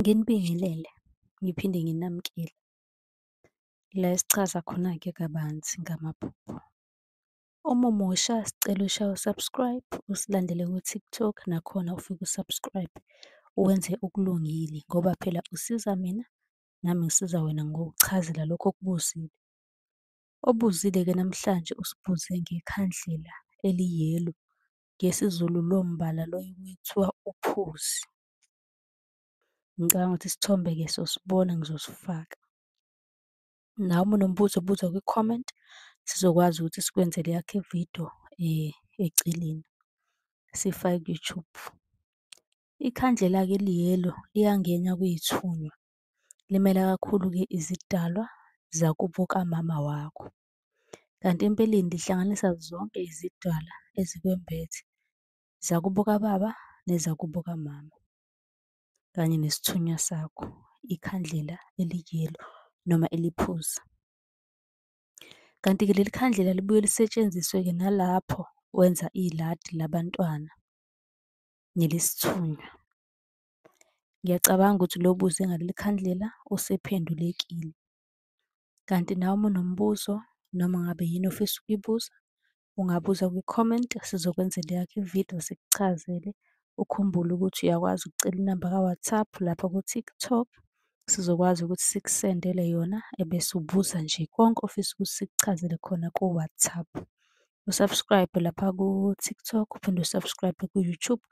Nginibingelele ngiphinde nginamukele la esichaza khona-ke kabanzi ngamaphupho. Uma umusha sicela ushaye u-subscribe, usilandele ku-TikTok nakhona ufike u-subscribe wenze okulungile ngoba phela usiza mina nami ngisiza wena ngokuchazela lokho okubuzile. Obuzile-ke namhlanje usibuze ngekhandlela eli-yellow, ngesiZulu lowo mbala lowo kuthiwa uphuzi. Ngicabanga ukuthi isithombe-ke sosibona ngizosifaka. Nawe uma unombuzo buza kwi-comment sizokwazi ukuthi sikwenzele eyakho ividiyo eceleni sifake ku-YouTube. Ikhandlela-ke liyelo liyangena kuyithunywa. Limela kakhulu-ke izidalwa zakubo kamama wakho. Kanti empeleni lihlanganisa zonke izidalwa ezikwembethe zakubo kababa nezakubo kamama kanye nesithunywa sakho, ikhandlela eliyelo noma eliphuzi. Kanti-ke leli khandlela libuye lisetshenziswe-ke nalapho wenza iladi labantwana nelesithunywa. Ngiyacabanga ukuthi lo buze ngaleli khandlela usephendulekile. Kanti nawe uma unombuzo noma ngabe yini ofisa ukuyibuza, ungabuza kwi-comment sizokwenzela eyakho ividiyo sikuchazele. Ukhumbule ukuthi uyakwazi ukucela inamba ka-WhatsApp lapha ku-TikTok sizokwazi ukuthi sikusendele yona ebese ubuza nje konke ofisa ukuthi sikuchazele khona ku-WhatsApp. U-subscribe lapha ku-TikTok uphinde u-subscribe ku-YouTube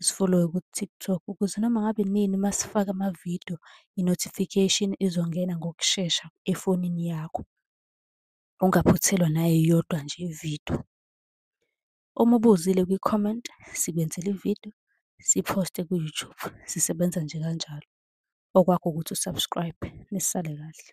usifollowe ku-TikTok ukuze noma ngabe nini uma sifaka amavidiyo i-notification izongena ngokushesha efonini yakho. ungaphuthelwa nayeyodwa nje ividiyo. Uma ubuzile kwi-comment sikwenzela ividiyo siphoste ku-YouTube, sisebenza nje kanjalo. Okwakho ukuthi u-subscribe, nisale kahle.